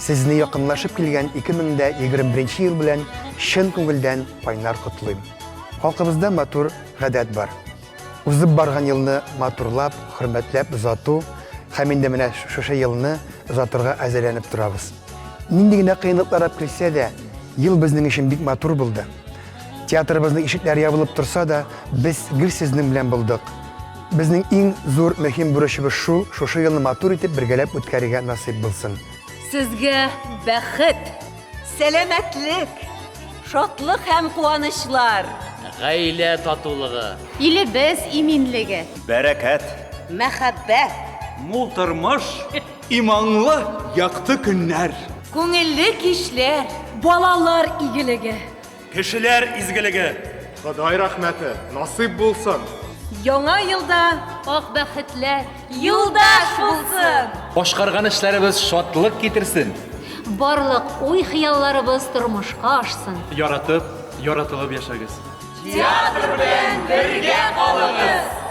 Сезне якынлашып килгән 2021 ел белән чын күңелдән кайнар котлыйм. Халкыбызда матур гадәт бар. Узып барган елны матурлап, хөрмәтләп озату һәм инде менә шушы елны озатырга әзерләнеп торабыз. Нинди генә кыенлыклар да килсә дә, ел безнең өчен бик матур булды. Театрыбызның ишекләре ябылып торса да, без гел сезнең белән булдык. Безнең иң зур мөһим бурычыбыз шул, шушы елны матур итеп бергәләп үткәрергә насыйп булсын. Сезгә бәхет, сәламәтлек, шатлык һәм куанычлар! Гаилә татулыгы. Илебез иминлеге. Бәрәкәт. Мәхәббәт. Мул тормыш. Иманлы, якты көннәр. Күңелле кичләр. Балалар игелеге. Кешеләр изгелеге, Ходай рәхмәте насыйп булсын! Яңа елда ак бәхетләр юлдаш булсын! Башкарган эшләребез шатлык китерсен! Барлык уй-хыялларыбыз тормышка ашсын! Яратып, яратылып яшәгез! Театр белән бергә калыгыз!